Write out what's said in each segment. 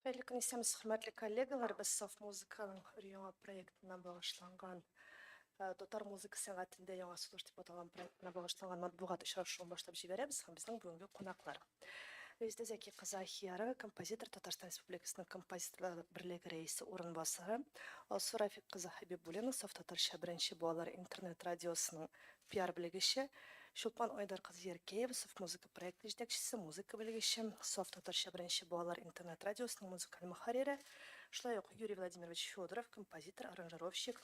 Хәерле көн, исәнмесез, хөрмәтле коллегалар! Без Саф музыканың өр-яңа проектына багышланган, татар музыка сәнгатендә яңа сулыш дип аталган проектына багышланган матбугат очрашуын башлап җибәрәбез. Һәм безнең бүгенге кунаклар. Резеда Зәки кызы Ахиярова, композитор, Татарстан Республикасының Композиторлар берлеге рәисе урынбасары, Алсу Рафик кызы Хәбибуллина, Саф татарча беренче балалар интернет радиосының Пиар белгече, Чулпан Айдар кызы Яркеева, Софт музыка проекты җитәкчесе, музыка белгече, Софт татарча беренче балалар интернет радиосының музыкаль мөхәррире, шулай ук Юрий Владимирович Федоров, композитор, аранжировщик,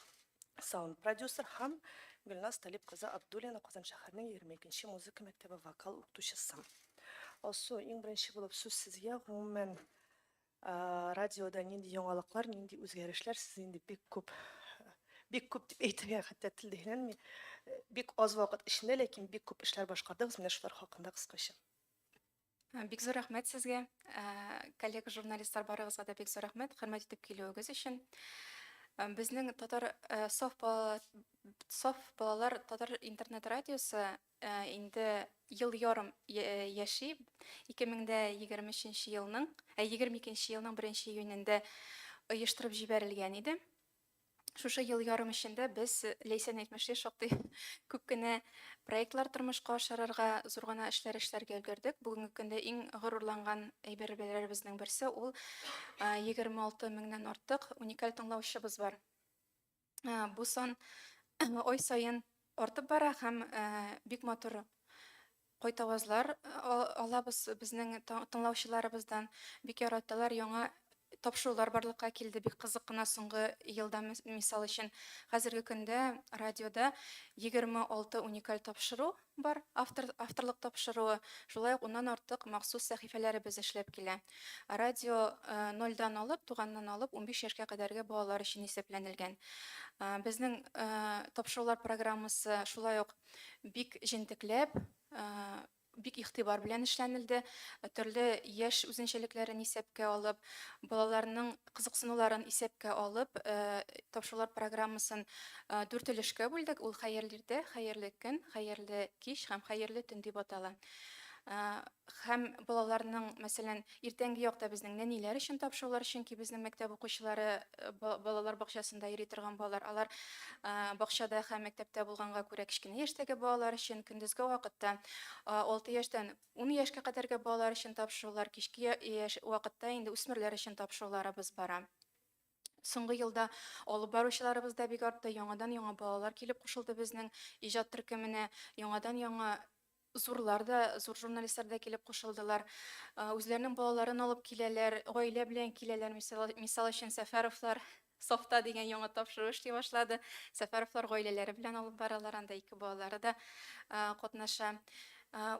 саунд продюсер һәм Гөлназ Талип кызы Абдуллина, Казан шәһәренең егерме икенче музыка мәктәбе вокал укытучысы. Алсу, иң беренче булып сүз сезгә, гомумән, Радиода нинди яңалыклар, нинди үзгәрешләр сез инде бик күп, бик күп дип әйтергә хәтта тел дигәнме, бик аз вакыт эчендә, ләкин бик күп эшләр башкардыгыз, менә шулар хакында кыскача. Бик зур рәхмәт сезгә, коллега журналистлар барыгызга да бик зур рәхмәт, хөрмәт итеп килүегез өчен. Безнең татар софт балалар татар интернет радиосы Ә инде ел ярым яши. 2023 елның, ә 22 елның 1 июнендә оештырып җибәрелгән иде. Шушы ел ярым эчендә без Ләйсән әйтмешли шактый күп кенә проектлар тормышка ашырырга, зур гына эшләр эшләргә өлгердек. Бүгенге көндә иң горурланган әйберләребезнең берсе ул 26 меңнән артык уникаль тыңлаучыбыз бар. бу сан ай саен артып бара һәм бик матур кайтавазлар алабыз безнең тыңлаучыларыбыздан бик яраталар яңа тапшырулар барлыкка килде бик кызык кына соңгы елда мисал өчен хәзерге көндә радиода 26 уникаль тапшыру Бар, автор, авторлык тапшыруы, шулай ук уннан артык махсус сәхифәләребез эшләп килә. Радио нольдән алып, туганнан алып, унбиш яшькә кадәрге балалар өчен исәпләнелгән. Безнең тапшырулар программасы шулай ук бик җентекләп, бик игътибар белән эшләнелде. Төрле яшь үзенчәлекләрен исәпкә алып, балаларның кызыксынуларын исәпкә алып, тапшырулар программасын дүрт өлешкә бүлдек, ул хәерле иртә, хәерле көн, хәерле кич һәм хәерле төн дип атала. Һәм балаларның, мәсәлән, иртәнге якта безнең нәниләр өчен тапшырулар, чөнки безнең мәктәп укучылары балалар бакчасында йөри торган балалар, алар бакчада һәм мәктәптә булганга күрә, кечкенә яшьтәге балалар өчен көндезге вакытта алты яшьтән Ун яшькә кадәрге балалар өчен тапшырулар, кичке яшь вакытта инде үсмерләр өчен тапшыруларыбыз бара. Соңгы елда алып баручыларыбыз да бик артты, яңадан-яңа балалар килеп кушылды безнең иҗат төркеменә, яңадан-яңа зурлар да, зур журналистлар да килеп кушылдылар. Үзләренең балаларын алып киләләр, гаилә белән киләләр, мисал өчен Сәфәровлар, Софта дигән яңа тапшыру эшли башлады. Сәфәровлар гаиләләре белән алып баралар, анда ике балалары да катнаша.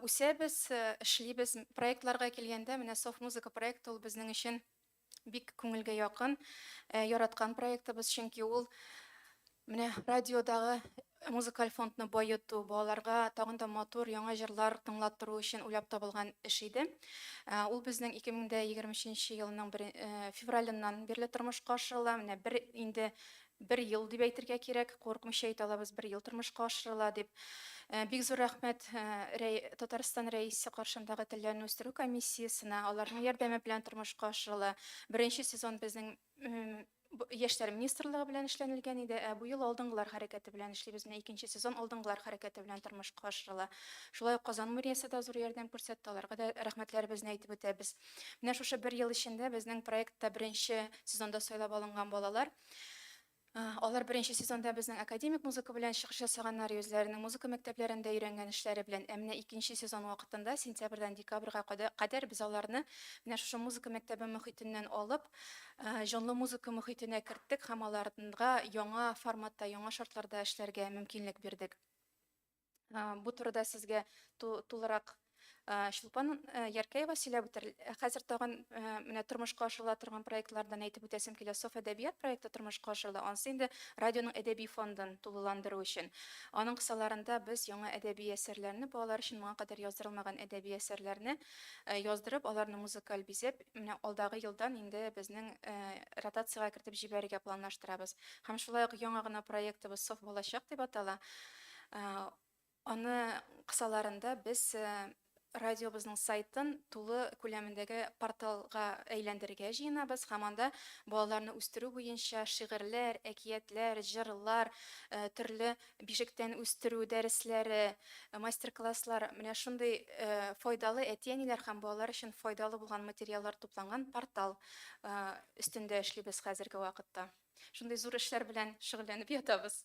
Үсәбез, эшлибез. Проектларга килгәндә, менә Софт музыка проекты ул безнең өчен бик күңелгә якын, яраткан проектыбыз, чөнки ул менә радиодагы Музыкаль фондны баету, балаларга тагын да матур яңа җырлар тыңлаттыру өчен уйлап табылган эш иде. Ул безнең 2023 елның бер февралыннан бирле тормышка ашырыла. Менә бер инде бер ел дип әйтергә кирәк, курыкмыйча әйтә алабыз, бер ел тормышка ашырыла дип. Бик зур рәхмәт Татарстан Рәисе каршындагы телләрне үстерү комиссиясенә, аларның ярдәме белән тормышка ашырыла. Беренче сезон безнең Яшьләр министрлыгы белән эшләнелгән иде, ә бу ел алдынгылар хәрәкәте белән эшлибез. Менә икенче сезон алдынгылар хәрәкәте белән тормышка ашырыла. Шулай ук Казан мэриясе дә зур ярдәм күрсәтте, аларга да рәхмәтләребезне әйтеп үтәбез. Менә шушы бер ел эчендә безнең проектта беренче сезонда сайлап алынган балалар Алар беренче сезонда безнең академик музыка белән чыгыш ясаганнар, үзләренең музыка мәктәпләрендә өйрәнгән эшләре белән. Ә менә икенче сезон вакытында, сентябрьдән декабрьгә кадәр без аларны менә шушы музыка мәктәбе мохитеннән алып, җанлы музыка мохитенә керттек һәм аларга яңа форматта, яңа шартларда эшләргә мөмкинлек бирдек. Бу турыда сезгә тулырак Чулпан Яркеева сөйләп үтер. Хәзер тагын менә тормышка ашырыла торган проектлардан әйтеп үтәсем килә. Соф әдәбият проекты тормышка ашырыла. Ансы инде радионың әдәби фондын тулыландыру өчен. Аның кысаларында без яңа әдәби әсәрләрне, балалар өчен моңа кадәр яздырылмаган әдәби әсәрләрне яздырып, аларны музыкаль бизәп, менә алдагы елдан инде безнең ротациягә кертеп җибәрергә планлаштырабыз. Һәм шулай ук яңа гына проектыбыз Соф балачак дип атала. Аны кысаларында без радиобызның сайтын тулы күләмендәге порталга әйләндерергә җыенабыз һәм анда балаларны үстерү буенча шигырьләр, әкиятләр, җырлар, төрле бишектән үстерү дәресләре, мастер-класслар, менә шундый файдалы, әти-әниләр һәм балалар өчен файдалы булган материаллар тупланган портал өстендә эшлибез хәзерге вакытта. Шундый зур эшләр белән шөгыльләнеп ятабыз.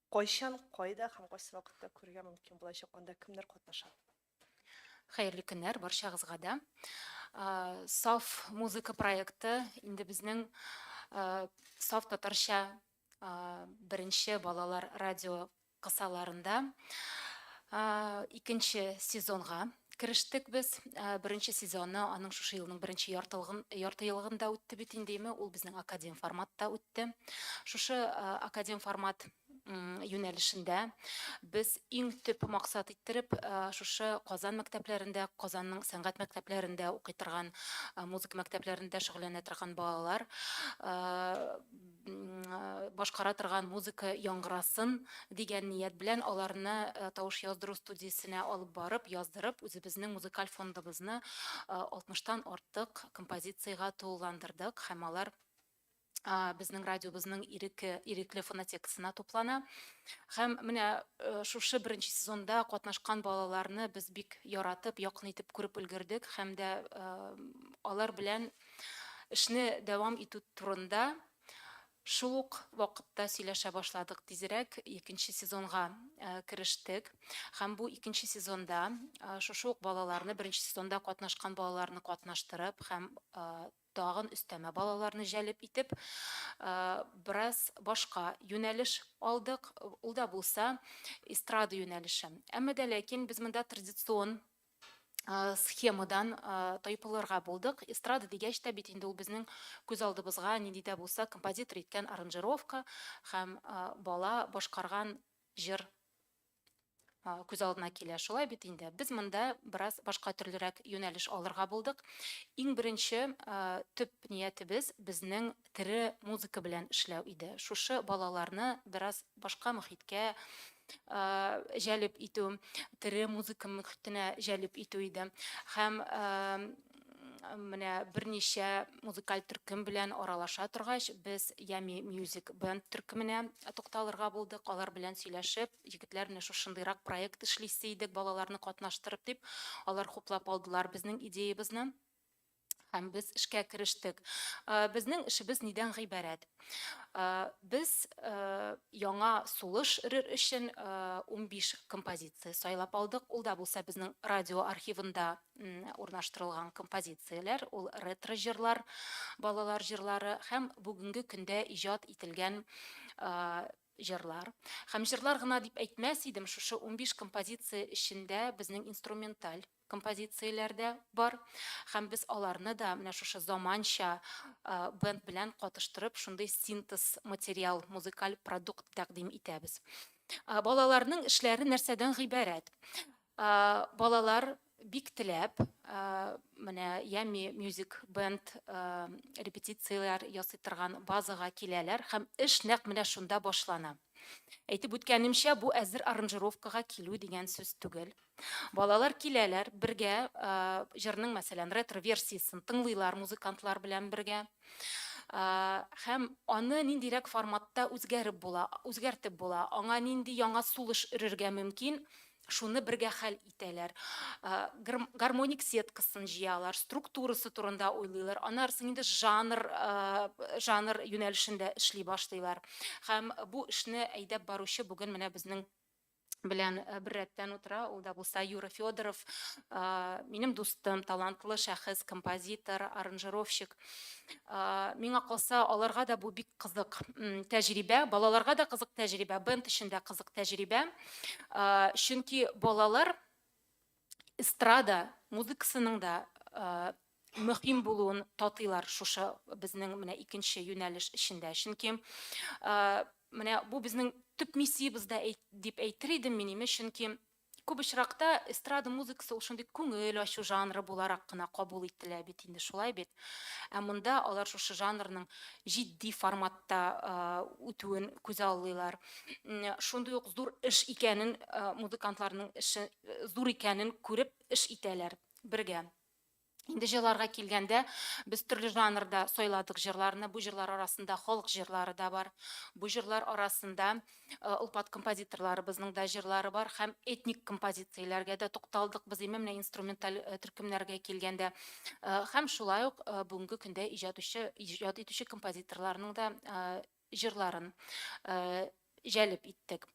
Кайчан, кайда һәм кайсы вакытта күрергә мөмкин булачак, анда кемнәр катнаша? Хәерле көннәр барчагызга да. Саф музыка проекты инде безнең саф татарча беренче балалар радио кысаларында икенче сезонга Керештек без, беренче сезоны аның шушы елның беренче яртылыгын, ярты елыгында үтте бит инде, име, ул безнең академ форматта үтте. Шушы академ формат юнәлешендә без иң төп максат иттереп, шушы Казан мәктәпләрендә, Казанның сәнгать мәктәпләрендә укый торган, музыка мәктәпләрендә шөгыльләнә торган балалар, башкара торган музыка яңгырасын дигән ният белән аларны э, тавыш яздыру студиясенә алып барып, яздырып, үзебезнең музыкаль фондыбызны 60-тан э, артык композициягә тулыландырдык һәм алар безнең радиобызның иреке ирекле фонотекасына туплана һәм менә э, шушы беренче сезонда катнашкан балаларны без бик яратып якын итеп күреп өлгердек һәм дә э, алар белән Эшне дәвам итү турында шул ук вакытта сөйләшә башладык. Тизрәк икенче сезонга керештек. Һәм бу икенче сезонда шушы ук балаларны, беренче сезонда катнашкан балаларны катнаштырып һәм тагын өстәмә балаларны җәлеп итеп, бераз башка юнәлеш алдык. Ул да булса эстрада юнәлеше. Әмма дә ләкин без монда традицион Э, схемадан э, тайпылырга булдык эстрада дигәч тә бит инде ул безнең күз алдыбызга нинди дә булса композитор иткән аранжировка һәм э, бала башкарган җыр күз алдына килә шулай бит инде без монда бераз башка төрлерәк юнәлеш алырга булдык иң беренче төп ниятебез безнең тере музыка белән эшләү иде. Шушы балаларны бераз башка мөхиткә җәлеп итү, тере музыка мөхитенә җәлеп итү иде. Һәм менә берничә музыкаль төркем белән аралаша торгач, без Ями Music Band төркеменә тукталырга булдык. Алар белән сөйләшеп, егетләр менә шушындыйрак проект эшлисе идек, балаларны катнаштырып дип, алар хуплап алдылар безнең идеябызны. һәм без эшкә керештек. Безнең эшебез нидән гыйбарәт? Без яңа сулыш рыр өчен 15 композиция сайлап алдык. Ул да булса безнең радио архивында урнаштырылган композицияләр, ул ретро җырлар, балалар җырлары һәм бүгенге көндә иҗат ителгән җырлар. Һәм җырлар гына дип әйтмәс идем, шушы 15 композиция эчендә безнең инструменталь композицияләр дә бар. Һәм без аларны да менә шушы заманча бенд белән катыштырып, шундый синтез материал, музыкаль продукт тәкъдим итәбез. Балаларның эшләре нәрсәдән гыйбарәт? Балалар бик теләп менә Yummy Music Band репетицияләр ясый торган базага киләләр һәм эш нәкъ менә шунда башлана. Әйтеп үткәнемчә, бу әзер аранжировкага килү дигән сүз түгел. Балалар киләләр, бергә җырның, мәсәлән, ретро-версиясен тыңлыйлар музыкантлар белән бергә. Һәм аны ниндирәк форматта үзгәреп була, үзгәртеп була, аңа нинди яңа сулыш өрергә мөмкин, Шуны бергә хәл итәләр. Гармоник сеткасын җыялар, структурасы турында уйлыйлар. Аннарсын инде жанр, жанр юнәлешендә эшли башлыйлар. Һәм бу эшне әйдәп баручы бүген менә безнең белән бер рәттән утыра, ул да булса Юра Федоров, минем дустым, талантлы шәхес, композитор, аранжировщик. миңа калса аларга да бу бик кызык тәҗрибә балаларга да кызык тәҗрибә бенд өчен дә кызык тәҗрибә чөнки балалар эстрада музыкасының да мөһим булуын татыйлар шушы безнең менә икенче юнәлеш эчендә чөнки менә бу безнең төп миссиябез дә дип әйтер идем мин чөнки Күп очракта эстрада музыкасы ул шундый күңел ачу жанры буларак кына кабул ителә бит инде, шулай бит? Ә монда алар шушы жанрның җитди форматта үтүен күзаллыйлар. Шундый ук зур эш икәнен, музыкантларның эше зур икәнен күреп эш итәләр бергә. Инде җырларга килгәндә, без төрле жанрда сайладык җырларны. Бу җырлар арасында халык җырлары да бар. Бу җырлар арасында э, олпат композиторларыбызның да җырлары бар һәм этник композицияләргә дә тукталдык без именно менә инструменталь э, төркемнәргә килгәндә. Э, һәм шулай ук бүгенге көндә иҗат итүче композиторларның да җырларын җәлеп иттек.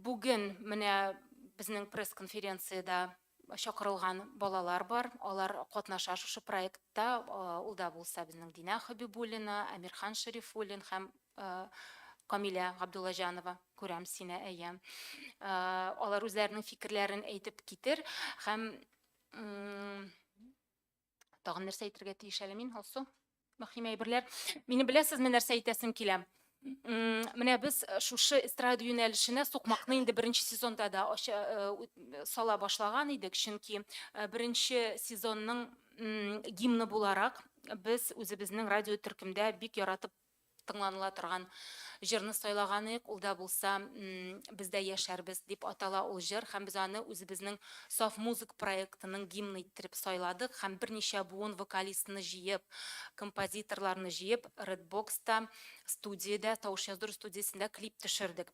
Бүген менә безнең пресс-конференциядә чакырылган балалар бар, алар катнаша шушы проектта, ул да булса безнең Динә Хәбибуллина, Әмирхан Шәрифуллин һәм Камилә Габдуллаҗанова, күрәм сине, әйе. Алар үзләренең фикерләрен әйтеп китер һәм Тагын нәрсә әйтергә тиеш әле мин, Алсу? Мөһим әйберләр. Мине беләсезме, нәрсә әйтәсем килә? Менә без э, шушы эстрада юнәлешенә сукмакны инде беренче сезонда да э, э, сала башлаган идек, чөнки беренче сезонның гимны буларак без үзебезнең радио төркемдә бик яратып тыңланыла торган җырны сайлаганыек, ул да булса Без дә яшәрбез дип атала ул җыр һәм без аны үзебезнең Саф музык проектының гимны иттереп сайладык һәм берничә буын вокалистны җыеп, композиторларны җыеп Red Box та, студиядә, тавыш яздыру студиясендә клип төшердек.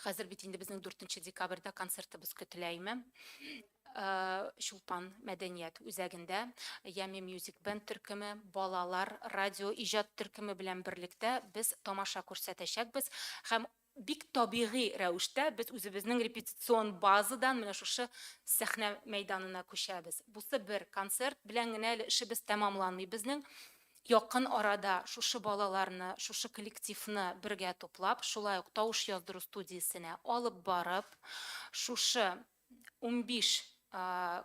Хәзер бит инде безнең 4 декабрьдә концертыбыз көтелә име. Чулпан мәдәният үзәгендә Ями Music Band төркеме, балалар радио иҗат төркеме белән берлектә без тамаша күрсәтәчәкбез һәм бик табигый рәвештә без үзебезнең репетицион базадан менә шушы сәхнә мәйданына күчәбез. Бусы бер концерт белән генә әле эшебез тәмамланмый безнең. Якын арада шушы балаларны, шушы коллективны бергә туплап, шулай ук тавыш яздыру студиясенә алып барып, шушы унбиш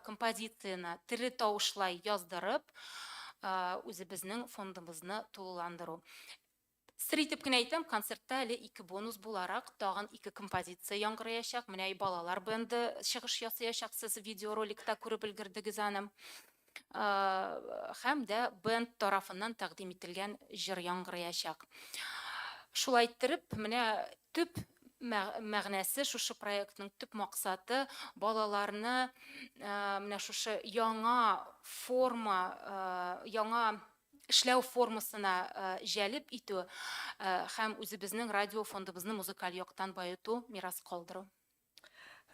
композицияне тере тавышлай яздырып, үзебезнең фондыбызны тулыландыру. Сер итеп кенә әйтәм, концертта әле ике бонус буларак тагын ике композиция яңгыраячак. Менә и балалар бенды чыгыш ясыячак, сез видеороликта күреп өлгердегез аны. Һәм дә бенд тарафыннан тәкъдим ителгән җыр яңгыраячак. Шулай иттереп, менә төп мәгънәсе, шушы проектның төп максаты, балаларны менә шушы яңа форма, яңа эшләү формасына җәлеп итү һәм үзебезнең радио фондыбызны музыкаль яктан баету, мирас калдыру.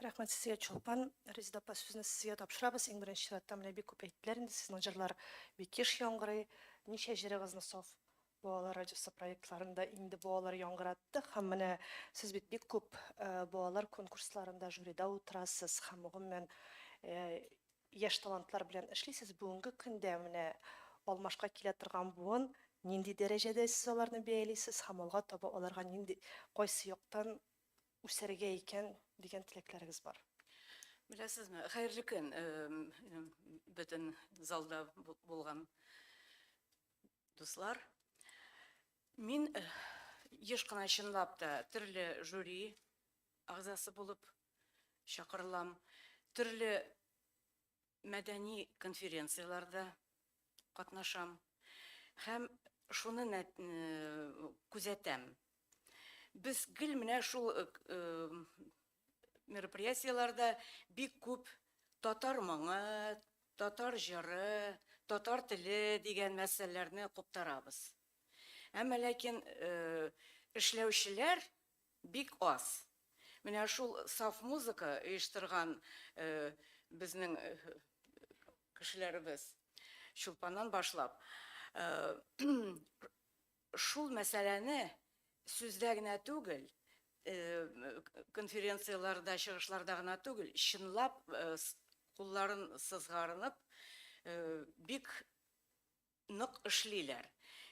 Рәхмәт сезгә, Чулпан. Резеда апа, сүзне сезгә тапшырабыз. Иң беренче чиратта, менә бик күп әйттеләр инде, сезнең җырлар бик еш яңгырый. Ничә җырыгызны Саф балалар радиосы проектларында инде бу алар яңгыраттык һәм менә сез бит бик күп балалар конкурсларында жюрида утырасыз һәм гомумән Яшь талантлар белән эшлисез, бүгенге көндә менә алмашка килә торган буын нинди дәрәҗәдә сез аларны бәялисез һәм алга таба аларга нинди, кайсы яктан үсәргә икән дигән теләкләрегез бар? Беләсезме, хәерле көн бөтен залда булган дуслар. Мин еш кына чынлап та төрле жюри Әгъзасы булып чакырылам. Төрле мәдәни конференцияләрдә катнашам һәм шуны күзәтәм. Без гел менә шул мероприятиеләрдә бик күп татар моңы, татар җыры, татар теле дигән мәсьәләләрне куптарабыз. Әмма ләкин эшләүчеләр Бик аз. Менә шул саф музыка оештырган безнең кешеләребез, Чулпаннан башлап, шул мәсьәләне сүздә генә түгел, конференцияләрдә, чыгышларда гына түгел, чынлап кулларын сызгарынып, бик нык эшлиләр.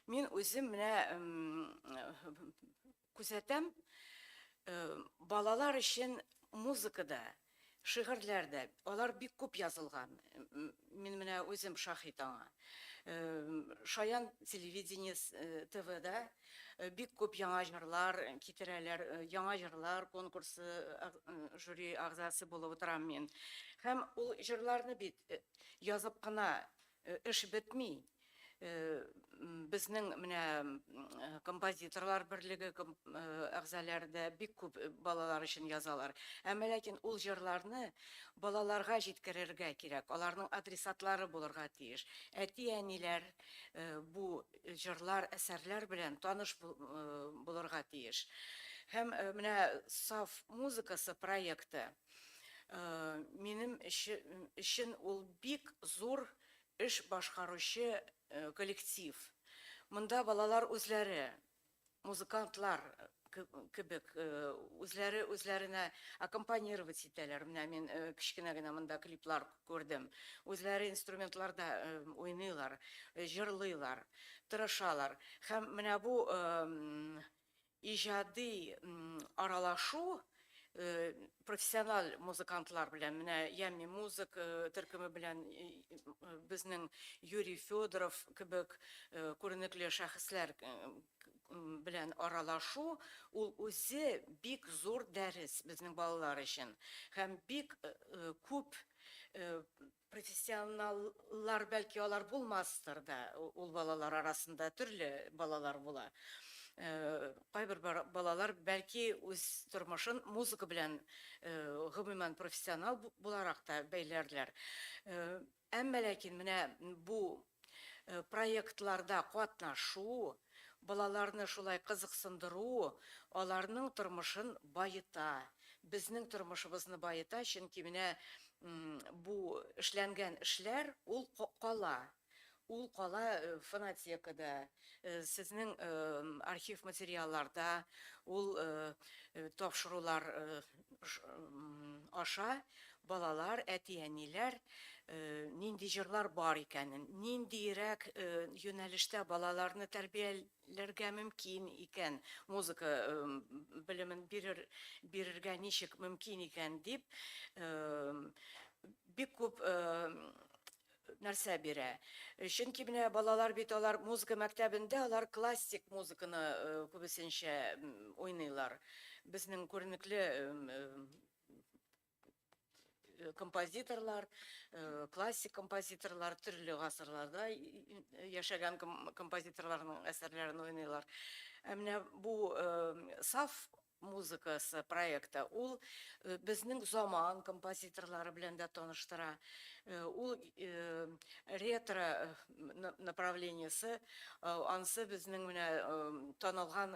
Мин үзем менә күзәтәм, балалар өчен музыка да, шигырьләр дә, алар бик күп язылган. Мин менә үзем шаһит аңа. Шаян телевидение ТВда бик күп яңа җырлар китерәләр, яңа җырлар конкурсы жюри әгъзасы булып утырам мин. Һәм ул җырларны бит язып кына Эш бетми. Безнең менә композиторлар берлеге әгъзаләре дә бик күп балалар өчен язалар. Әмма ләкин ул җырларны балаларга җиткерергә кирәк, аларның адресатлары булырга тиеш. Әти-әниләр бу җырлар, әсәрләр белән таныш булырга тиеш. Һәм менә Саф музыкасы проекты Минем өчен ул бик зур эш башкаручы коллектив. Монда балалар үзләре, музыкантлар кебек, үзләре үзләренә аккомпанировать итәләр. Менә мин кечкенә генә монда клиплар күрдем. Үзләре инструментларда уйныйлар, җырлыйлар, тырышалар. Һәм менә бу Иҗади аралашу профессиональ музыкантлар белән, менә Yummy Music төркеме белән безнең Юрий Федоров кебек күренекле шәхесләр белән аралашу, ул үзе бик зур дәрес безнең балалар өчен. Һәм бик күп Профессионаллар, бәлки, алар булмастыр да, ул балалар арасында төрле балалар була. Кайбер балалар, бәлки, үз тормышын музыка белән, гомумән, профессионал буларак та бәйләрләр. Әмма ләкин менә бу Проектларда катнашу, балаларны шулай кызыксындыру аларның тормышын баета, безнең тормышыбызны баета, чөнки менә бу эшләнгән эшләр, ул кала, ул кала фонотекада, сезнең архив материалларда, ул тапшырулар аша балалар, әти-әниләр нинди җырлар бар икәнен, ниндиерәк юнәлештә балаларны тәрбияләргә мөмкин икән, музыка белемен бирер, бирергә ничек мөмкин икән дип бик күп нәрсә бирә. Чөнки менә балалар бит алар музыка мәктәбендә алар классик музыканы күбесенчә уйныйлар. Безнең күренекле композиторлар, классик композиторлар, төрле гасырларда яшәгән композиторларның әсәрләрен уйныйлар. Ә менә бу саф музыкасы проекты, ул безнең заман композиторлары белән дә таныштыра, ул ретро направлениесе, ансы безнең менә танылган,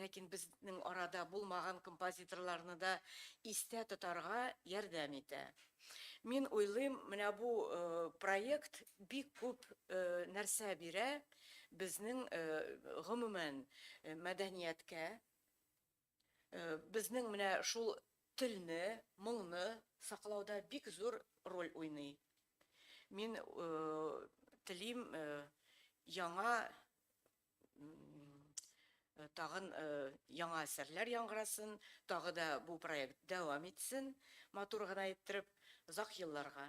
ләкин безнең арада булмаган композиторларны да истә тотарга ярдәм итә. Мин уйлыйм, менә бу проект бик күп нәрсә бирә безнең гомумән мәдәнияткә, Безнең менә шул телне, моңны саклауда бик зур роль уйный. Мин телим яңа тагын яңа әсәрләр яңгырасын, тагы да бу проект дәвам итсен, матур гына иттереп, озак елларга.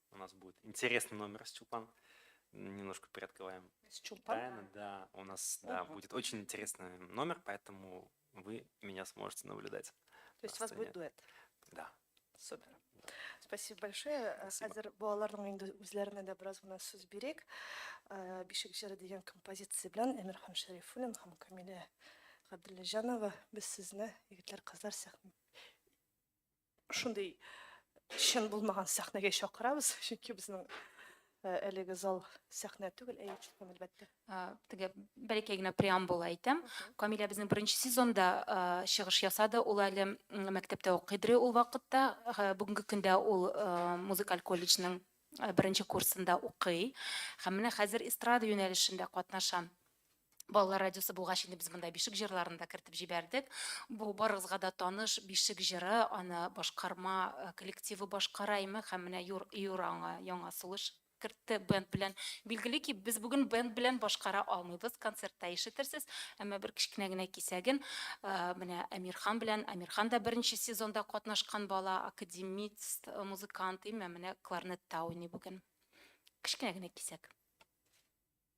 У нас будет интересный номер с Чулпан. Немножко приоткрываем. С Чулпан? Тайны, да. У нас да, будет очень интересный номер, поэтому вы меня сможете наблюдать. То есть у вас будет дуэт? Да. Супер. Спасибо большое. Э, Спасибо. Хәзер балаларның инде үзләренә дә бераз гына сүз бирик. Э, Бишек җыры дигән композиция белән Әмирхан Шәрифуллин һәм Камилә Габдуллаҗанова без сезне, егетләр, кызлар, сәхнә шундый чын булмаган сәхнәгә чакырабыз, чөнки безнең әлеге зал сәхнә түгел, әйе, чын әлбәттә. Теге бәләкәй генә преамбула әйтәм. Камилә безнең беренче сезонда чыгыш ясады. Ул әле мәктәптә укыйдыр ул вакытта. Бүгенге көндә ул музыкаль колледжның беренче курсында укый. Һәм менә хәзер эстрада юнәлешендә катнаша. Балалар радиосы булгач инде без монда бишек җырларын да кертеп җибәрдек. Бу барыгызга да таныш бишек җыры, аны башкарма э, коллективы башкара име һәм менә Юр, Юр аңа яңа сулыш кертте бенд белән. Билгеле ки, без бүген бенд белән башкара алмыйбыз, концертта ишетерсез, әмма бер кечкенә генә кисәген э, менә Әмирхан белән, Әмирхан да беренче сезонда катнашкан бала, академист, э, музыкант, име менә кларнетта уйный бүген. Кечкенә генә кисәк.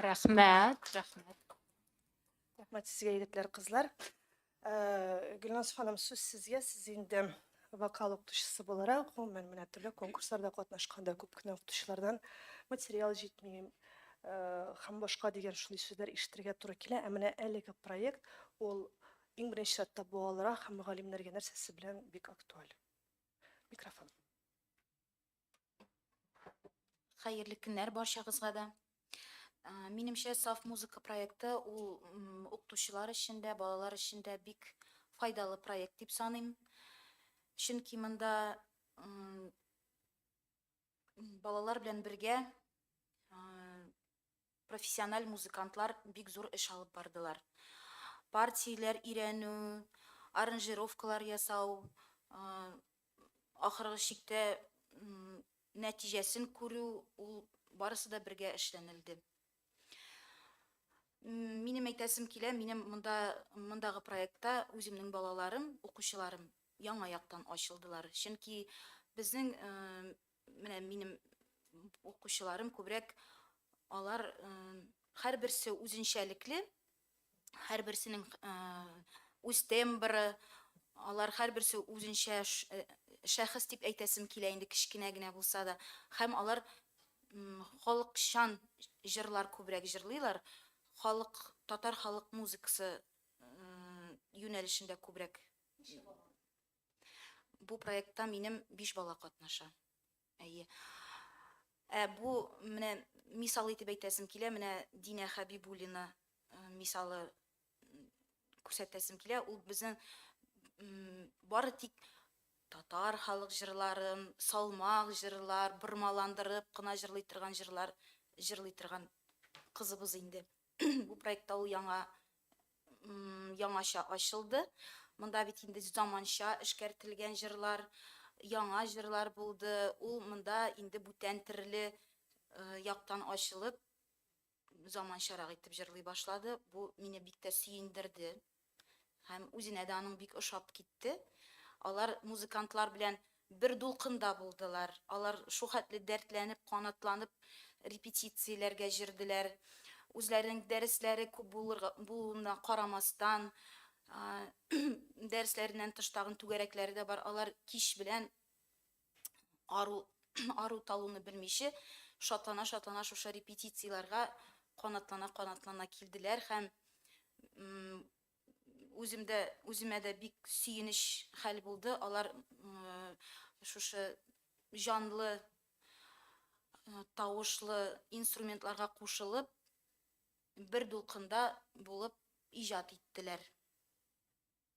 Рәхмәт, рәхмәт. Рәхмәт сезгә, егетләр, кызлар. Э, Гөлназ ханым, сүз сезгә. Сез инде вокал укытучысы буларак, гомумән менә төрле конкурсларда катнашканда күп кенә укытучылардан материал җитми, э, һәм башка дигән шундый сүзләр ишетергә туры килә. Ә менә әлеге проект ул иң беренче чиратта балаларга һәм мөгаллимнәргә нәрсәсе белән бик актуаль. Микрофон. Хәерле көннәр барчагызга да. Минемчә, саф музыка проекты ул укытучылар өчен дә, балалар өчен дә бик файдалы проект дип саныйм. Чөнки монда балалар белән бергә Профессиональ музыкантлар бик зур эш алып бардылар. Партияләр өйрәнү, аранжировкалар ясау, ахыргы чиктә нәтиҗәсен күрү, ул барысы да бергә эшләнелде. Минем әйтәсем килә, минем монда, мондагы проектта үземнең балаларым, укучыларым яңа яктан ачылдылар. Чөнки безнең Менә минем укучыларым күбрәк алар һәрберсе үзенчәлекле, һәрберсенең үз тембры, алар һәрберсе үзенчә шәхес дип әйтәсем килә инде кечкенә генә булса да, һәм алар халыкчан җырлар күбрәк җырлыйлар, халык татар халык музыкасы юнәлешендә күбрәк Бу проектта минем биш бала катнаша. Әйе. Ә бу менә мисал итеп әйтәсем килә, менә Динә Хәбибуллина э, мисалы күрсәтәсем килә. Ул безнең бары тик татар халык җырларын, салмак җырлар, бормаландырып кына җырлый торган җырлар җырлый торган кызыбыз инде. Бу проектта ул яңа яңача ачылды. Монда бит инде заманча эшкәртелгән җырлар, яңа җырлар булды. Ул монда инде бүтән терле яктан ачылып, заманчарак итеп җырлый башлады. Бу мине бик тә сөендерде. Һәм үзенә дә аның бик ошап китте. Алар музыкантлар белән бер дулкында булдылар. Алар шухәтле дәртләнеп, канатланып репетицияләргә җөрделәр. Үзләренең дәресләре күп булырга булуына карамастан, дәресләреннән тыш тагын түгәрәкләре дә бар, алар кич белән ару, ару талуны белмичә, шатлана-шатлана шушы репетицияләргә канатлана-канатлана килделәр һәм үземдә үземә дә бик сөенеч хәл булды. Алар шушы җанлы тавышлы инструментларга кушылып бер дулкында булып иҗат иттеләр.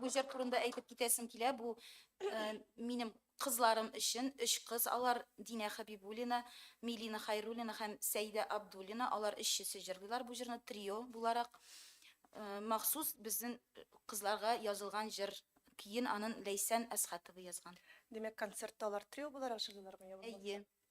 Бу җыр турында әйтеп китәсем килә. Бу э, минем кызларым өчен өч кыз алар Динә Хәбибуллина, Милина Хайруллина һәм Сәйдә Абдуллина. Алар өчесе җырлыйлар бу җырны трио буларак. Э, махсус безнең кызларга язылган җыр. Киен анын Ләйсән Әсхатова язган. Димәк, концертта алар трио буларак җырлыйлармы? Әйе.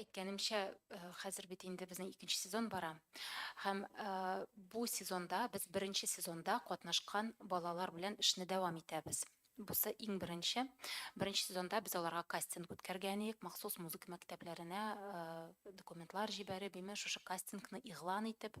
әйткәнемчә, хәзер бит инде безнең икенче сезон бара. Һәм бу сезонда без беренче сезонда катнашкан балалар белән эшне дәвам итәбез. Бусы иң беренче. Беренче сезонда без аларга кастинг үткәргән идек, махсус музыка мәктәпләренә документлар җибәреп, имеш шушы кастингны игълан итеп,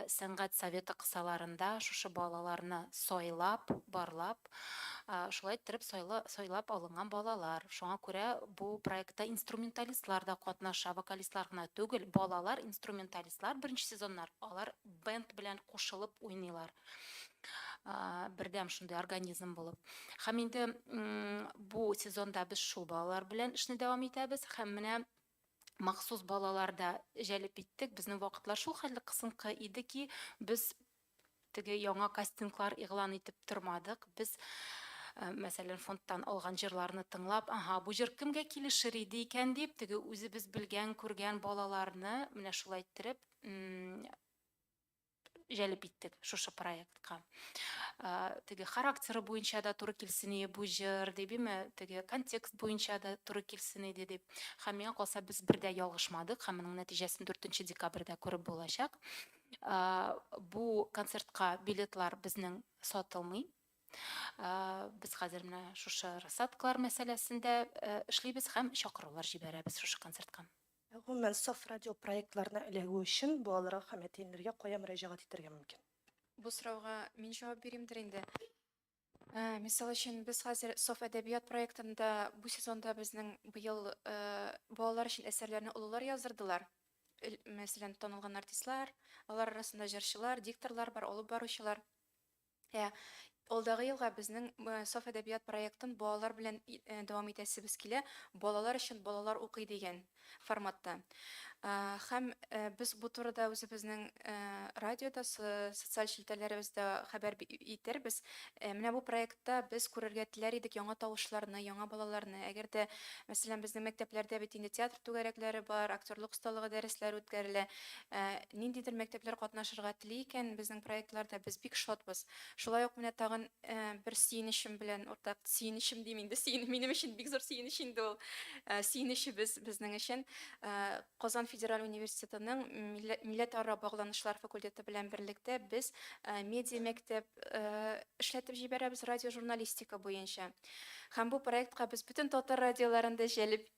сәнгать советы кысаларында шушы балаларны сайлап, барлап, итеп, шулай иттереп сайлап алынган балалар. Шуңа күрә бу проектта инструменталистлар да катнаша, вокалистлар гына түгел. Балалар инструменталистлар беренче сезоннар алар бенд белән кушылып уйныйлар. Бердәм шундый организм булып. Һәм инде бу сезонда без шул балалар белән эшне дәвам итәбез. Һәм менә махсус балалар да җәлеп иттек. Безнең вакытлар шул хәтле кысынкы иде ки, без теге яңа кастинглар игълан итеп тормадык. Без, э, мәсәлән, фондтан алган җырларны тыңлап, аһа, бу җыр кемгә килешер иде икән дип, теге үзебез белгән, күргән балаларны менә шулай иттереп җәлеп иттек шушы проектка. Э, теге характеры буенча да туры килсен иде бу җыр, дип, име, теге контекст буенча да туры килсен иде дип. Һәм миңа калса, без бер дә ялгышмадык, һәм моның нәтиҗәсен 4 декабрьдә күреп булачак. Бу концертка билетлар безнең сатылмый. Без хәзер менә шушы рассадкалар мәсьәләсендә эшлибез һәм чакырулар җибәрәбез шушы концертка. Гомумән, саф радио проектларына эләгү өчен балаларга һәм әтиәниләргә кая мөрәҗәгать итәргә мөмкин? Бу сорауга мин җавап бирим дер инде. Ә, мисал өчен, без хәзер Соф әдәбият проектында бу сезонда безнең быел балалар өчен әсәрләрне олылар яздырдылар. Мәсәлән, танылган артистлар, алар арасында җырчылар, дикторлар бар, алып баручылар. Ә алдагы елга безнең Соф әдәбият проектын балалар белән дәвам итәсебез килә, балалар өчен балалар укый дигән. форматта. Һәм без бу турыда үзебезнең радиода, социаль челтәрләребездә хәбәр итербез. Менә бу проектта без күрергә теләр идек яңа тавышларны, яңа балаларны. Әгәр дә, мәсәлән, безнең мәктәпләрдә бит инде театр түгәрәкләре бар, актерлык осталыгы дәресләре үткәрелә. Ниндидер мәктәпләр катнашырга тели икән безнең проектларда, без бик шатбыз. Шулай ук менә тагын Бер сөенечем белән уртак, сөенечем дим инде, сөен, минем өчен бик зур сөенеч инде ул. Сөенечебез безнең өчен Казан федераль университетының милләтара багланышлар факультеты белән берлектә без медиа мәктәп эшләтеп җибәрәбез радиожурналистика буенча. Һәм бу проектка без бөтен татар радиоларын да җәлеп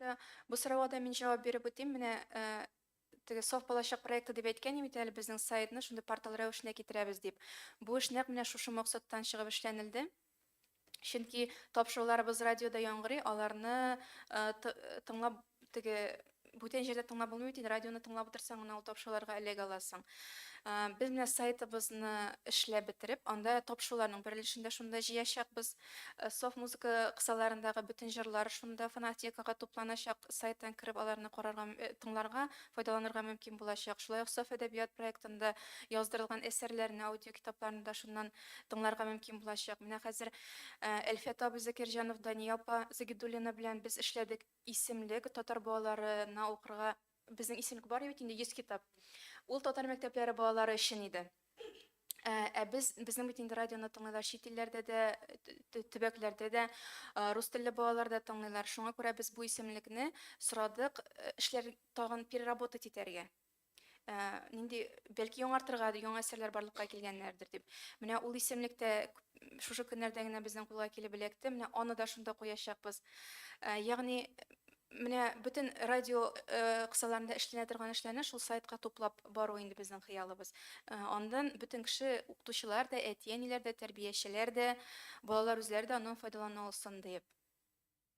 Да, бу сорауга да мин җавап биреп үтим. Менә э, теге Соф балачак проекты дип әйткән идем бит әле безнең сайтны шундый портал рәвешенә китерәбез дип. Бу эш нәкъ менә шушы максаттан чыгып эшләнелде. Чөнки тапшыруларыбыз радиода яңгырый, аларны э, т- тыңлап теге бүтән җирдә тыңлап булмый бит инде, радионы тыңлап утырсаң гына ул тапшыруларга эләгә аласың. Ә, Без менә сайтыбызны эшләп бетереп, анда тапшыруларның бер өлешен дә шунда җыячакбыз. Ә, Софт музыка кысаларындагы бөтен җырлар шунда фонотекага тупланачак. Сайттан кереп аларны карарга, м- э, тыңларга, файдаланырга мөмкин булачак. Шулай ук Софт әдәбият проектында яздырылган әсәрләрне, аудиокитапларны да шуннан тыңларга мөмкин булачак. Менә хәзер э, Әлфәт абый Закирҗанов, Дания апа Загидуллина белән без эшләдек. Исемлек, татар балалары на укырга Безнең исемлек бар бит инде 100 китап. Ул татар мәктәпләре балалары өчен иде. Ә, ә без, безнең бит инде радионы тыңлыйлар чит илләрдә дә, төбәкләрдә дә, рус телле балалар да тыңлыйлар. Шуңа күрә без бу исемлекне сорадык, эшләр тагын переработать итәргә. ә, нинди бәлки яңартырга яңа әсәрләр барлыкка килгәннәрдер дип менә ул исемлек тә шушы көннәрдә генә безнең кулга килеп эләкте менә аны да шунда куячакбыз ә, ягъни менә бөтен радио э, кысаларында эшләнә торган эшләрне шул сайтка туплап бару инде безнең хыялыбыз э, андан бөтен кеше укытучылар да әти әниләр дә тәрбиячеләр дә балалар үзләре дә аннан файдалана алсын диеп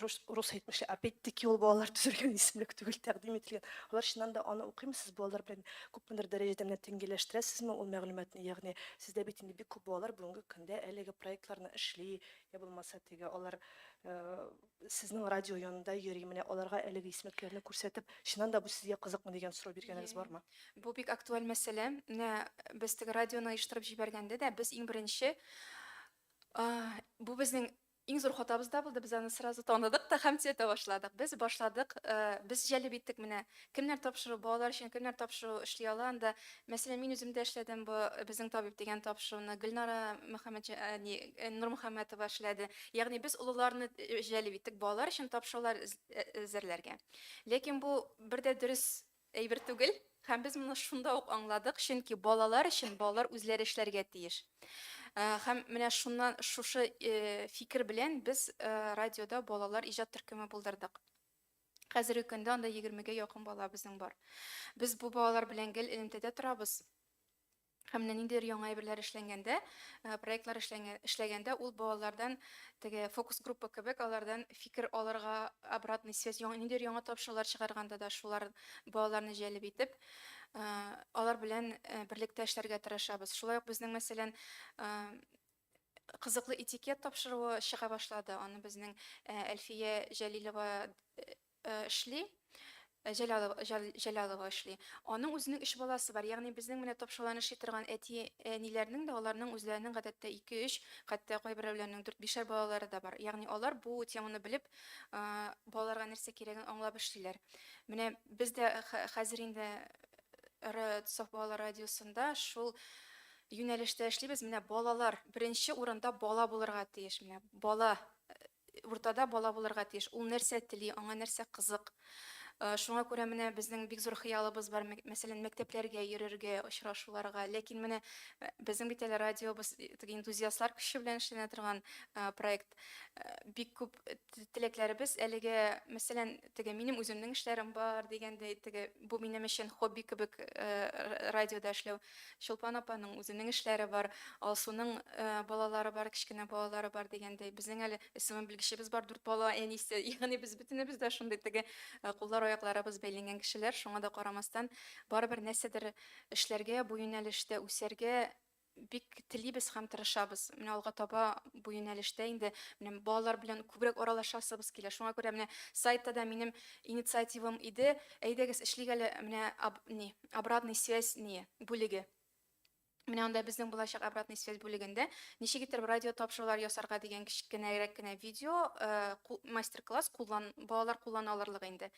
рус, рус әйтмешли, опять-таки ул балалар төзелгән исемлек түгел, тәкъдим ителгән. Алар чыннан да аны укыймы сез балалар белән күпмедер дәрәҗәдә менә тиңгеләштерәсезме ул мәгълүматны? Ягъни сездә бит инде бик күп балалар бүгенге көндә әлеге проектларны эшли, я булмаса теге алар э, сезнең радио янында йөри, менә аларга әлеге исемлекләрне күрсәтеп, чыннан да бу сезгә кызыкмы дигән сорау биргәнегез бармы? Бу бик актуаль мәсьәлә. Менә без теге радионы оештырып җибәргәндә дә без иң беренче э, бу безнең Иң зур хатабыз да булды, без аны сразу таныдык та һәм цвета башладык. Без башладык, без җәлеп иттек менә. Кемнәр тапшыру, балалар өчен кемнәр тапшыру эшли ала анда. Мәсәлән, мин үзем дә эшләдем бу Безнең табиб дигән тапшыруны, Гөлнара Мөхәммәтҗ, не, Нурмөхәммәтова эшләде. Ягъни без олыларны җәлеп иттек балалар өчен тапшырулар әзерләргә. Ләкин бу бер дә дөрес Әйбер түгел, һәм без моны шунда ук аңладык, чөнки балалар өчен балалар үзләре эшләргә тиеш. Э, һәм менә шуннан шушы э, фикер белән без э, радиода балалар иҗат төркеме булдырдык. Хәзерге көндә анда 20-гә якын бала безнең бар. Без бу балалар белән гел элемтәдә торабыз. Һәм менә ниндидер яңа әйберләр эшләнгәндә, проектлар эшләнгән, эшләгәндә ул балалардан теге фокус-группа кебек алардан фикер алырга, обратный связь, яңа ниндидер яңа тапшырулар чыгарганда да шулар балаларны җәлеп итеп, алар белән берлектә эшләргә тырышабыз. Шулай ук безнең, мәсәлән, кызыклы этикет тапшыруы чыга башлады. Аны безнең Әлфия Җәлилова эшли, Э, Җәлялова, Җәлялова эшли. Аның үзенең өч баласы бар. Ягъни безнең менә топшалан эшли торган әти әниләрнең дә аларның үзләренең гадәттә 2-3, хәтта кайберәүләрнең 4-5 балалары да бар. Ягъни алар бу теманы белеп, э, балаларга нәрсә кирәген аңлап эшлиләр. Менә без дә хәзер инде Соф балалар радиосында шул юнәлештә эшлибез. Менә балалар беренче урында бала булырга тиеш. Менә бала Уртада бала булырга тиеш. Ул нәрсә тели, аңа нәрсә кызык. Шуңа күрә менә безнең бик зур хыялыбыз бар, мәсәлән, мәктәпләргә йөрергә, очрашуларга. Ләкин менә безнең бит әле радиобыз теге энтузиастлар көче белән эшләнә торган проект. Бик күп теләкләребез әлегә, мәсәлән, теге минем үземнең эшләрем бар дигәндәй, теге бу минем өчен хобби кебек радиода эшләү. Чулпан апаның үзенең эшләре бар, Алсуның балалары бар, кечкенә балалары бар дигәндәй. Безнең әле СММ белгечебез бар, дүрт бала әнисе. Ягъни без бөтенебез дә шундый теге куллар-аякларыбыз бәйләнгән кешеләр. Шуңа да карамастан, барыбер нәрсәдер эшләргә, бу юнәлештә үсәргә бик телибез һәм тырышабыз. Менә алга таба бу юнәлештә инде менә балалар белән күбрәк аралашасыбыз килә. Шуңа күрә менә сайтта да минем инициативам иде, әйдәгез эшлик әле менә аб, ни, обратный связь не бүлеге Менә анда безнең булачак обратный связь бүлегендә ничек итеп радио тапшырулар ясарга дигән кечкенәрәк кенә видео, э, мастер-класс куллан балалар куллана алырлык инде.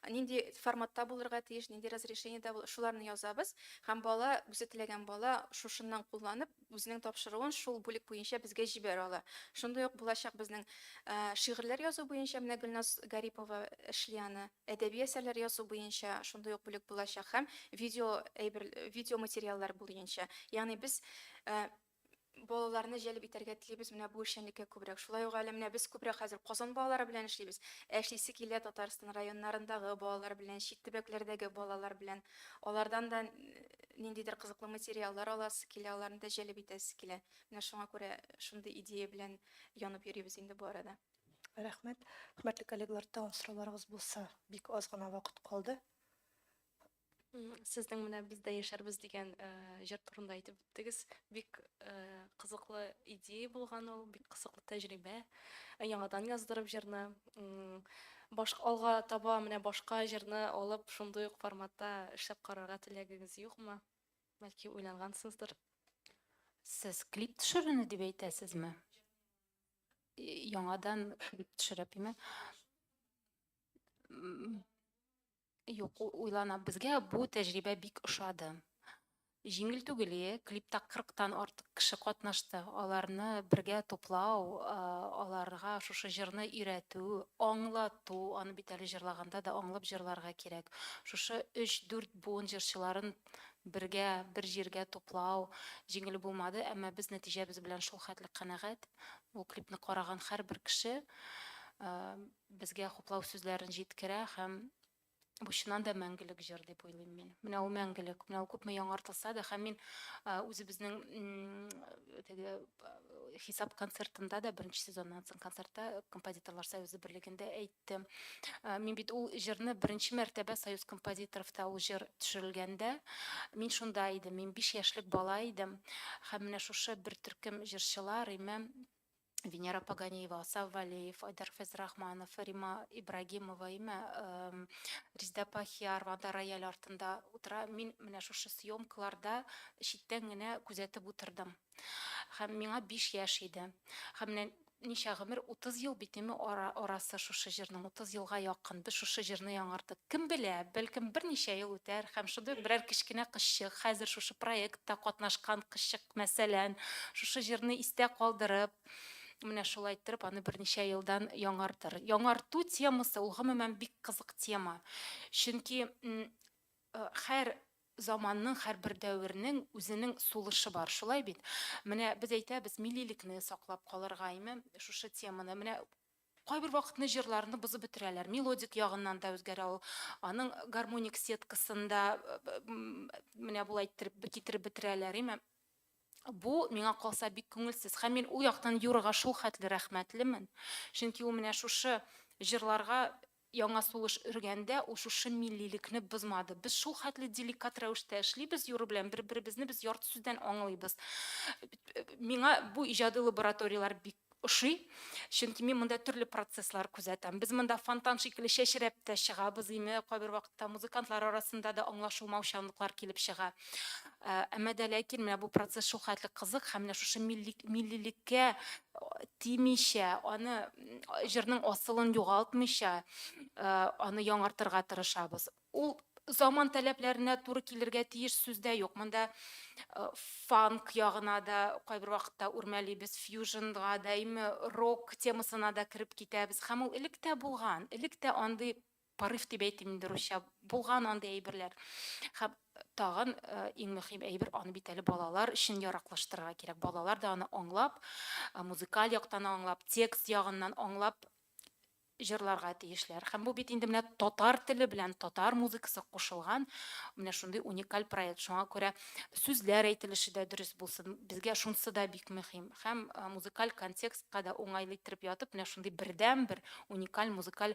Нинди форматта булырга тиеш, нинди разрешениедә шуларны язабыз һәм бала үзе теләгән бала шушыннан кулланып үзенең тапшыруын шул бүлек буенча безгә җибәрә ала. Шундый ук булачак безнең э, шигырьләр язу буенча менә Гөлназ Гарипова эшли аны. Әдәби әсәрләр язу буенча шундый ук бүлек булачак һәм видео әйбер, видео материаллар буенча. Ягъни без э, балаларны җәлеп итәргә телибез менә бу эшчәнлеккә күбрәк. Шулай ук әле менә без күбрәк хәзер Казан балалары белән эшлибез. Ә эшлисе килә Татарстан районнарындагы балалар белән, чит төбәкләрдәге балалар белән. Алардан да ниндидер кызыклы материаллар аласы килә, аларны да җәлеп итәсе килә. Менә шуңа күрә шундый идея белән янып йөрибез инде бу арада. Рәхмәт. Хөрмәтле коллегалар, тагын сорауларыгыз булса, бик аз гына вакыт калды. Сезнең менә без дә яшәрбез дигән э, җыр турында әйтеп үттегез. Бик э, кызыклы идея булган ул, бик кызыклы тәҗрибә. Э, яңадан яздырып җырны. Башка алга таба менә башка җырны алып, шундый ук форматта эшләп карарга теләгегез юкмы? Бәлки уйлангансыздыр. Сез клип төшерүне дип әйтәсезме? яңадан төшереп име юк уйлана безгә бу тәҗрибә бик ошады җиңел түгел е клипта кырыктан артык кеше катнашты аларны бергә туплау аларга шушы җырны өйрәтү аңлату аны бит әле җырлаганда да аңлап җырларга кирәк шушы өч дүрт буын җырчыларын бергә бер җиргә туплау җиңел булмады, әмма без нәтиҗәбез белән шул хәтле канәгать. Бу клипны караган һәрбер кеше безгә хуплау сүзләрен җиткерә һәм бу чыннан да мәңгелек җыр дип уйлыйм мин. Менә ул мәңгелек, менә ул күпме яңартылса да һәм мин үзебезнең теге хисап концертында да беренче сезоннан соң концертта композиторлар союзы берлегендә әйт китте. Мин бит ул җырны беренче мәртәбә Союз композиторовта ул җыр төшерелгәндә, мин шунда идем, мин биш яшьлек бала идем. Һәм менә шушы бер төркем җырчылар, Римә, Венера Паганиева, Асаф Валеев, Айдар Фәйзрахманов, Рима Ибрагимова, Имә, Резда Пахиярова анда рояль артында утыра. Мин менә шушы съемкаларда читтән генә күзәтеп утырдым. Хәм миңа биш яшь иде. Хәм менә ничә гомер, утыз ел бит име ара, арасы шушы җырның, утыз елга якын. Без шушы җырны яңартык. Кем белә, бәлкем берничә ел үтәр, хәм шундый ук берәр кечкенә кызчык, хәзер шушы проектта катнашкан кызчык, мәсәлән, шушы җырны истә калдырып, менә шулай иттереп аны берничә елдан яңартыр. Яңарту темасы, ул гомумән бик кызык тема. Чөнки, м, хәр Заманның, һәрбер дәвернең үзенең сулышы бар, шулай бит? Менә без әйтәбез, миллилекне саклап калырга, әйме, шушы теманы. Менә кайбер вакытны җырларны бозып бетерәләр. Мелодик ягыннан да үзгәрә ул. Аның гармоник сеткасын да менә болай иттереп китереп бетерәләр, әйме? Бу, миңа калса, бик күңелсез. Һәм мин ул яктан Юрага шулхәтле рәхмәтлемен. Чөнки ул менә шушы җырларга Яңа сулыш өргәндә ул шушы миллилекне бозмады. Без шул хәтле деликат рәвештә эшлибез Юра белән, бер-беребезне без ярты сүздән аңлыйбыз. Миңа бу иҗади лабораторияләр бик ошый, чөнки мин монда төрле процесслар күзәтәм. Без монда фонтан шикелле чәчрәп тә чыгабыз име кайбер вакытта. Та, музыкантлар арасында да аңлашылмаучанлыклар килеп чыга. Әмма дә ләкин менә бу процесс шул хәтле кызык һәм менә шушы миллик, миллилеккә тимичә, аны җырның асылын югалтмыйча, аны яңартырга тырышабыз. Ул заман таләпләренә туры килергә тиеш, сүз дә юк. Монда фанк ягына да кайбер вакытта үрмәлибез, фьюжнга да, әйме, рок темасына да кереп китәбез. Һәм ул элек тә булган, элек тә андый Порыв дип әйтим инде русча. Булган андый әйберләр. Һәм тагын иң мөһим әйбер, аны бит әле балалар өчен яраклаштырырга кирәк. Балалар да аны аңлап, музыкаль яктан аңлап, текст ягыннан аңлап җырларга тиешләр. Һәм бу бит инде менә татар теле белән татар музыкасы кушылган менә шундый уникаль проект. Шуңа күрә сүзләр әйтелеше дә дөрес булсын. Безгә шунсы да бик мөһим. Һәм музыкаль контекстка да уңайлы иттереп ятып, менә шундый бердәнбер уникаль музыкаль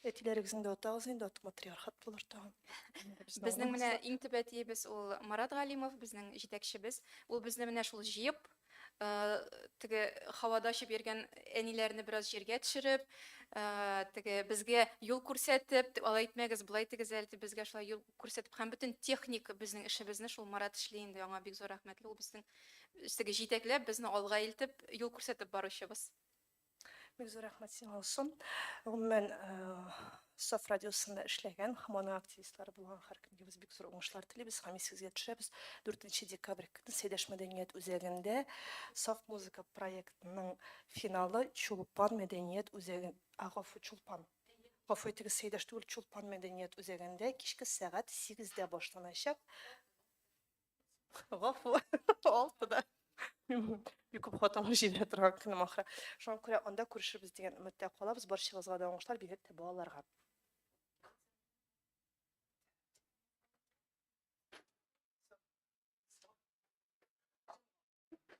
Әтиләрегезне дә атагыз инде, атык матриархат булыр тагын. Безнең менә иң төп әтиебез ул Марат Галимов, безнең җитәкчебез. Ул безне менә шул җыеп, э, теге һавада очып йөргән әниләрне бераз җиргә төшереп, э, теге безгә юл күрсәтеп, дип, алай итмәгез, болай итегез әле, дип, безгә шулай юл күрсәтеп һәм бөтен техник безнең эшебезне шул Марат эшли инде, аңа бик зур рәхмәтле. Ул безнең теге җитәкләп, безне алга илтеп, юл күрсәтеп баручыбыз. Бик зур рәхмәт сиңа, Алсу. Гомумән, Саф радиосында эшләгән һәм аның активистлары булган һәркемгә без бик зур уңышлар телибез һәм исегезгә төшерәбез, 4 декабрь көнне Сәйдәш мәдәният үзәгендә Саф музыка проектының финалы Чулпан мәдәният үзәге, гафу, Чулпан. Гафу итегез, Сәйдәш түгел, Чулпан мәдәният үзәгендә кичке сәгать сигездә башланачак. Гафу, алты да. Бик күп хатынлар җибәрә торган көнем ахыры. Шуңа күрә анда күрешербез дигән өметтә калабыз. Барчагызга да уңышлар, бигрәк тә балаларга.